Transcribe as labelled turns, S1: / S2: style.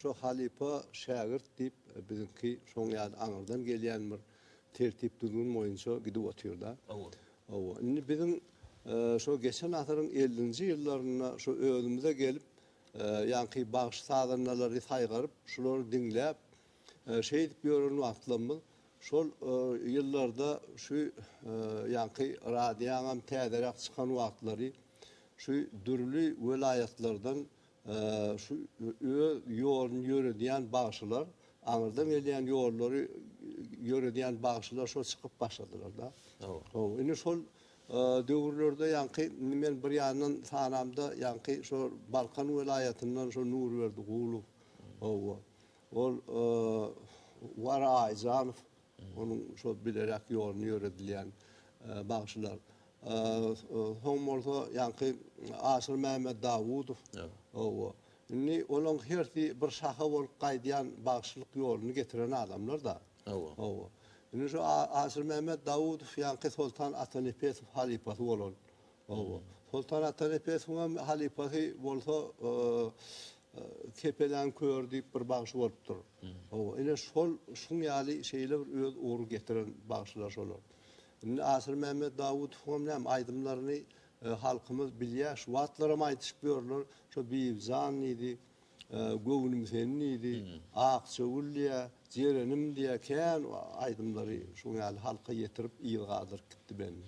S1: Şo halypa şägirt diýip biziňki şoň ýaly aňyrdan gelýän bir tertip düzgün boýunça gidip otyrda. Hawa. Indi biziň şo geçen asyryň ellinji ýyllarynda şo özümize gelip ýaňky bagş sazandalary saýgaryp şulary diňläp şeýdip ýören wagtlamyz şol ýyllarda şu ýaňky radioňam täzeräk çykan wagtlary şu dürli welaýatlardan Şu öz ýoluny ýöredýän bagşylar, aňyrdan gelýän ýollary ýöredýän bagşylar şol çykyp başladylar-da. Hawa. Indi şol döwürlerde ýaňky men bir ýandan sanamda ýaňky şo Balkan welaýatyndan şo Nurberdi Gulow, hawa, ol Wara Aýjanow, Onuň şol bileräk ýoluna ýöredilýän bagşylar. Soň bolsa ýaňky Aşyr Mämmet Dawudow. Hawa. Indi olaň hersi bir şaha bolup gaýdýan bagşylyk ýoluny getiren adamlar-da. Hawa. Hawa. Indi şu Aşyr Mämmet Dawudow ýaňky Soltan Atanepesow halypasy bolan Hawa. Soltan Ata Nepesowyň hem halypasy bolsa Kepeläň köri diýip bir bagşy bolupdyr. Hawa, ine şol şuň ýaly şeýle bir öz ugur getiren bagşylar şolar. Indi Asyr Mämmet Dawudowyň hem näme aýdymlaryny halkymyz bilýär. Şu wagtlar hem aýdyşyp ýörler. Şo Bibi jan diýdi, Göwnüm seni diýdi, Akja gül diýýä, Jerenim diýýä, kän aýdymlary şuň ýaly halka ýetirip yz galdyryp gitdi belli.